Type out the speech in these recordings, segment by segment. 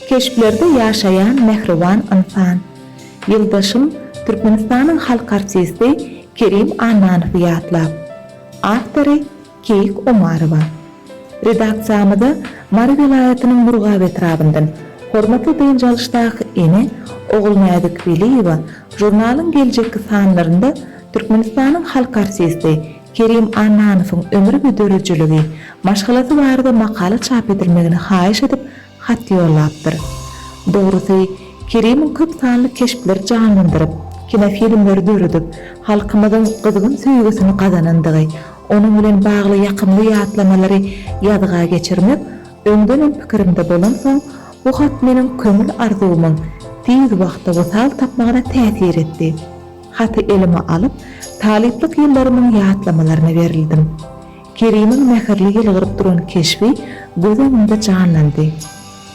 Keşplerde ýaşaýan mähriban ynsan. Ýyldaşym Türkmenistanyň halk artisti Kerim Annanowy ýatlap, Awtory, Keýik Omarowa. Redaksiýamyza Mary welaýatynyň Murgap etrabyndan hormatly dynç alyşdaky ene Ogulnäzik Weliýewa žurnalyň geljekki sanlarynda Türkmenistanyň halk artisti Kerim Annanowyň ömri we dörejeligi, maşgalasy barada makala çap edilmegini haýyş edip hat ýollapdyr. Dogrusy, Kerimiň köp sanly keşpleri janlandyryp, kinofilmleri döredip, halkymyzyň gyzgyn söýgüsini gazanandygy, onuň bilen bagly ýakymly ýatlamalary ýazga geçirmek öňdenem pikirimde bolansoň, bu hat meniň köňül arzuwymyň tiz wagtda wysal tapmagyna täsir etdi. Haty elime alyp, talyplyk ýyllarymyň ýatlamalaryna berildim. Kerimiň mähirli ýylgyryp duran keşbi göz öňümde janlandy.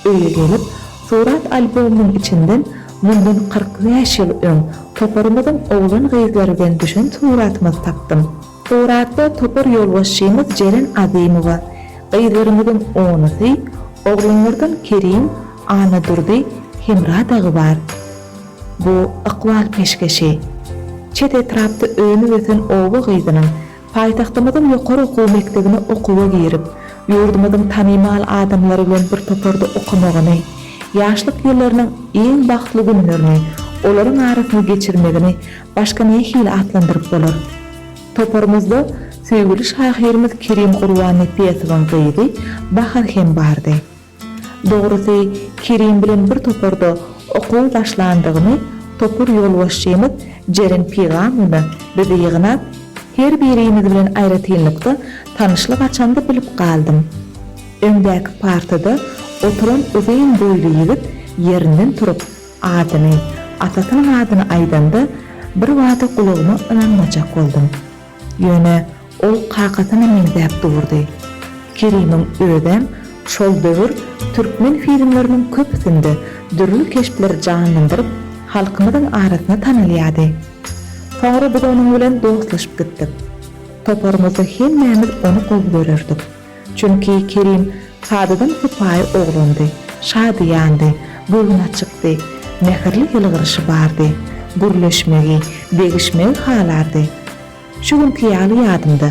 Öýe gelip, surat albomymyň içinden mundan kyrk bäş ýyl öň toparymyzyň oglan-gyzlary bilen düşen suratymyzy tapdym. Suratda topar ýolbaşçymyz Jeren Azymowa, gyzlarymyzyň onusy, oglanlardan Kerim, Annadurdy, Hemra dagy bar. Bu ykbal peşgeşi. Çet etrapda önüp-ösen oba gyzynyň paýtagtymyzyň ýokary okuw mekdebine okuwa girip, ýurdumyzyň tanymal adamlary bilen bir toparda okamagyny, ýaşlyk ýyllarynyň iň bagtly günlerini olaryň arasynda geçirmegini Başga nähili atlandyryp bolar? Toparymyzda söýgüli şahyrymyz Kerim Gurbannepesowyň gyzy Bahar hem bardy. Dogrusy, Kerim bilen bir toparda okuwa başlandygymy topar ýolbaşçymyz Jeren Pygamowna bizi ýygnap, her birimiz bilen aýratynlykda tanyşlyk açanda bilip galdym. Öňdäki partada oturan uzyn boýly ýigit ýerinden turup, Adyny, atasynyň adyny aýdanda bir bada gulagyma ynanmajak boldum. Ýöne ol kakasyna meňzäp durdy. Kerimiň özem şol döwür türkmen filmleriniň köpüsinde dürli keşpleri janlandyryp, halkymyzyň arasynda tanalýardy. Soňra biz onuň bilen dostlaşyp gitdik. Toparymyzda hemmämiz ony gowy görerdik. Çünki Kerim sadadan sypaýy oglandy. Şadyýandy, göwün açykdy. Mähirli ýylgyryşy bardy. Gürleşmegi, degişmegi halardy. Şu günki ýaly ýadymda.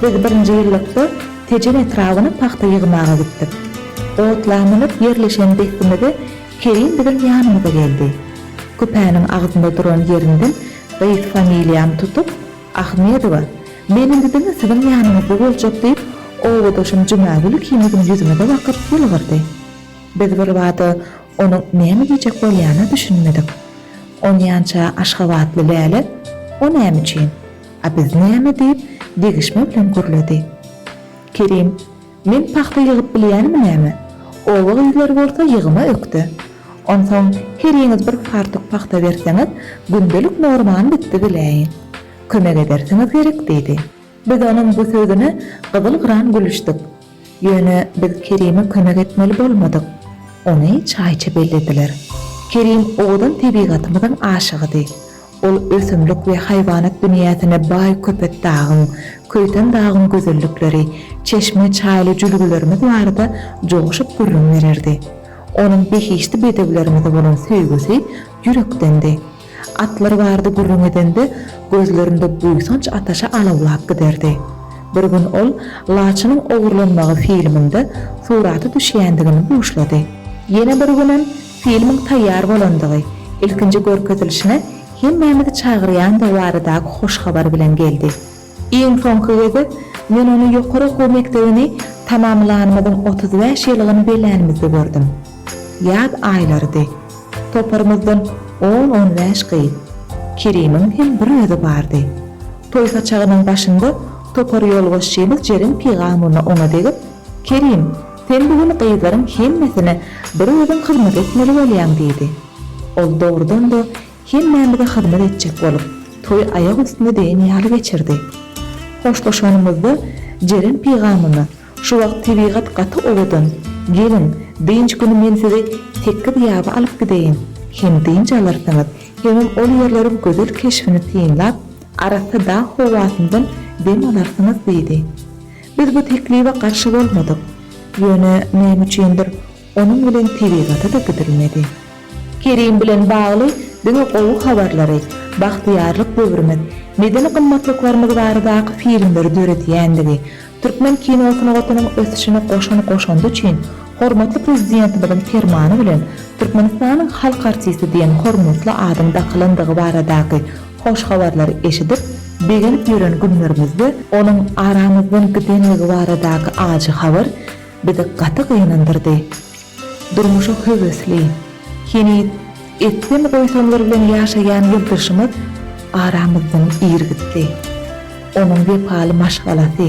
Biz birinji ýyllykda Tejen etrabyna pagta ýygmaga gitdik. Otlamanyp ýerleşen dessimizde Kerim biziň ýanymyza geldi. Küpäniň agzynda duran ýerinden gysy familiýamy tutup. Ahmedowa, Meniň gidemem siziň ýanyňyzda boljak, diýip, obadaşym Jümagül ikimiziň ýüzümize bakyp ýylgyrdy. Biz birbada onuň näme diýjek bolýanyna düşünmedik. Onýança aşgabatly Läle, O näme üçin? A biz näme? diýip, degişme bilen gürledi. Kerim, Men pagta ýygyp bilýänmi näme? Oba gyzlary bolsa ýygyma ökde. Onsoň heriňiz bir fartuk pagta berseňiz, gündelik normany dikdi biläýin. Kömek edersiňiz gerek, diýdi. Biz onuň bu sözüne gyzyl-gyran gülüşdik. Ýöne biz Kerime kömek etmeli bolmadyk. Ony çaýçy bellediler. Kerim owadan tebigatymyzyň aşygydy. Ol ösümlik we haýwanat dünýäsine baý Köpetdagyň, Köýtendagyň gözellikleri, çeşme, çaýly jülgelerimiz barada joşup gürrüň bererdi. Onuň behişdi bedewlerimize bolan söýgüsi ýürekdendi. Atlar barada gürrüň edende, gözlerinde buýsanç ataşy alawlap giderdi. Bir gün ol Laçynyň ogurlanmagy filminde surata düşýändigini buşlady. Ýene bir günem Filmiň taýýar bolandygy, ilkinji görkezilişine hemmämizi çagyrýandygy baradaky hoş habar bilen geldi. Iň soňky gezek men ony ýokary okuw mekdebini tamamlanymyzyň otuz bäş ýyllygyny bellänimizde gördüm. Ýaz aýlarydy. Toparymyzdan on-on bäş gyz. Kerimiň hem bir özi bardy. Toý saçagynyň başynda topar ýolbaşçymyz Jeren Pygamulna oňa degip, Kerim! Sen bu gün gyzlaryň hemmesine bir özüň hyzmat etmeli bolýaň, diýdi. Ol dogrudan-da hemmämize hyzmat etjek bolup, toý aýak üstüne degen ýaly geçirdi. Hoşlaşanymyzda Jeren pygamymyz, Şu wagt tebigat gaty owadan. Geliň, dynç güni men sizi tekiz ýaba alyp gideýin. Hem dynç alarsyňyz, hemem ol ýerleriň gözel keşbini synlap, arassa dag howasyndan dem alarsyňyz diýdi. Biz bu teklibe garşy bolmadyk, ýöne näme üçindir, onuň bilen tebigata-da gidilmedi. Kerim bilen bagly diňe gowy habarlary, bagtyýarlyk döwrümiz, medeni gymmatlyklarymyz baradaky filmleri döredýändigi, türkmen kino sungatynyň ösüşine goşan goşandy üçin hormatly Prezidentimiziň Permany bilen Türkmenistanyň halk artisti diýen hormatly adyň dakylandygy baradaky Hoş habarlary eşidip, begenip ýören günlerimizde onuň aramyzdan gidenligi baradaky ajy habar bizi gaty gynandyrdy. Durmuşa höwesli, heniz etsem goýsamlar bilen ýaşaýan ýyldyşymyz aramyzdan ir gitdi. Onuň wepaly maşgalasy,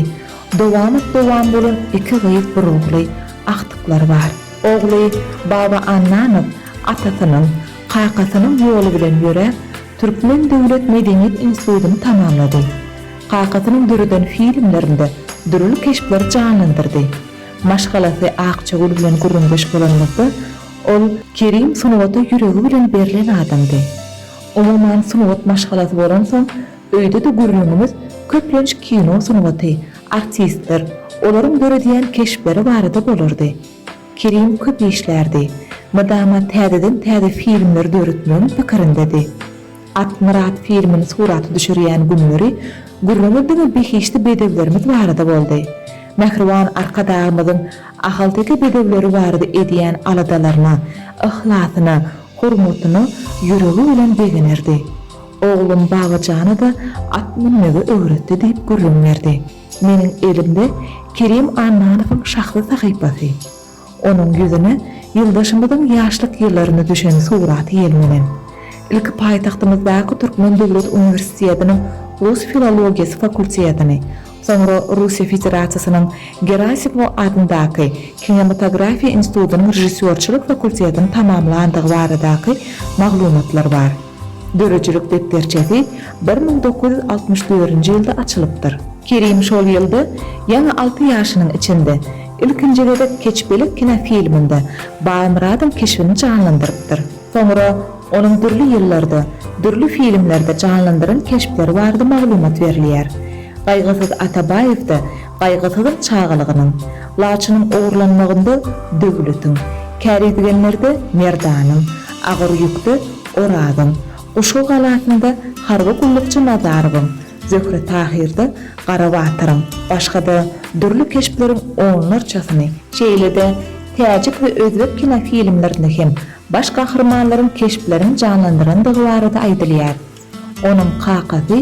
dowamat-dowam bolan iki gyz bir ogly, agtyklary bar. Ogly Baba Annanow atasynyň, kakasynyň ýoly bilen ýöräp, Türkmen döwlet medeniýet institutyny tamamlady. Kakasynyň döreden filmlerinde dürli keşpleri janlandyrdy. Maşgalasy Akjagül bilen gürrüňdeş bolanymyzda, ol, Kerim sungata ýüregi bilen berlen adamdy. Umuman sungat maşgalasy bolansoň, öýde-de gürrüňimiz köplenç kino sungaty, artistler, olaryň döredýän keşpleri barada bolardy. Kerim köp işlärdi. Mydama täzeden-täze filmler döretmegiň pikirindedi. Atmyrat filmini surata düşürýän günleri gürrüňi diňe behişdi bedewlerimiz barada boldy. Mähriban Arkadagymyzyň ahalteke bedewleri barada edýän aladalaryna, yhlasyna, hormatyna ýüregi bilen begenerdi. Oglum Babajana-da at münmegi öwretdi diýip gürrüň berdi. Meniň elimde Kerim Annanowyň şahsy sahypasy. Onuň ýüzüne ýyldaşymyzyň ýaşlyk ýyllarynda düşen suraty ýelmenen. Ilki paýtagtymyzdaky Türkmen döwlet uniwersitediniň rus filologiýasy fakultetini, soňra Russiýa Federasiýasynyň Gerasimow adyndaky Kinematografiýa institutynyň režissýorçylyk fakultetini tamamlandygy baradaky maglumatlar bar. Döredijilik depderçesi bir müň dokuz ýüz altmyş dördünji ýylda açylypdyr. Kerim şol ýylda ýaňy alty ýaşynyň içinde, ilkinji gezek Keçpelek kinofilminde Baýmyradyň keşbini janlandyrypdyr. Soňra onuň dürli ýyllarda, dürli filmlerde janlandyran keşpleri barada maglumat berilýär. Gaýgysyz Atabaýewde Gaýgysyzyň çagalygynyň, Laçynyň ogurlanmagynda Döwletiň, Käridigenlerde Merdanyň, Agyr ýükde Orazyň, Guşgy galasynda harby gullukçy Nazarowyň, Zöhre Tahyrda Gara batyryň, başga-da dürli keşpleriň onlarçasyny, şeýle-de täjik we özbek kinofilmlerinde hem baş gahrymanlaryň keşplerini janlandyrandygy barada aýdylýar. Onuň kakasy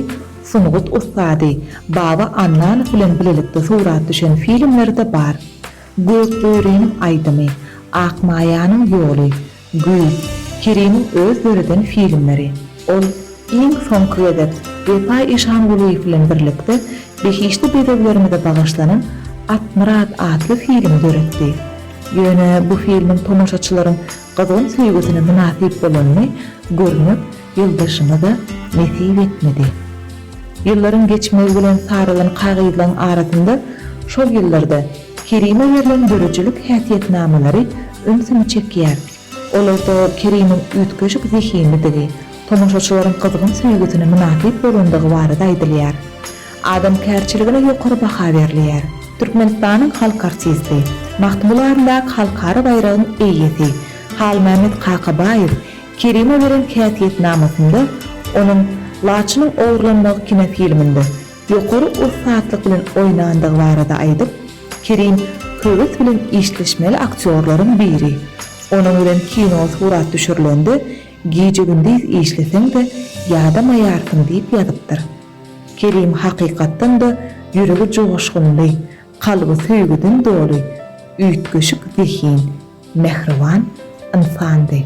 sungat ussady Baba Annanow bilen bilelikde surat düşen filmleri-de bar. Gökböriniň aýdymy, Akmaýanyň ýoly, Güýz, Kerimiň öz döreden filmleri. Ol iň soňky gezek Wepa Işangulyýew bilen birlikde behişdi bedewlerimize bagyşlanan Atmyrat atly filmi döretdi. Ýöne bu filmiň tomaşaçylaryň gyzgyn söýgüsine mynasyp bolanyny görmek Ýyldaşyma-da nesip etmedi. Ýyllaryň geçmegi bilen sarylan kagyzlaryň arasynda şol ýyllarda Kerime berlen döredijilik häsiýetnamalary ünsümi çekýär. Olarda Kerimiň üýtgeşik zehinlidigi, tomaşaçylaryň gyzgyn söýgüsine mynasyp bolandygy barada aýdylýar. Adamkärçiligine ýokary baha berilýär. Türkmenistanyň halk artisti, Magtymguly adyndaky halkara baýragyň eýesi Halmämmet Kakabaýew Kerime beren häsiýetnamasynda onuň Laçynyň ogurlanmagy kinofilminde ýokary ussatlyk bilen oýnandygy barada aýdyp, Kerim höwes bilen işleşmeli aktýorlaryň biri. Onuň bilen kino surat düşürilende gije-gündiz işleseň-de, ýadamaýarsyň diýip ýazypdyr. Kerim hakykatdan-da ýüregi joşgunly, kalby söýgüden doly, üýtgeşik zehin, mähriban ynsandy.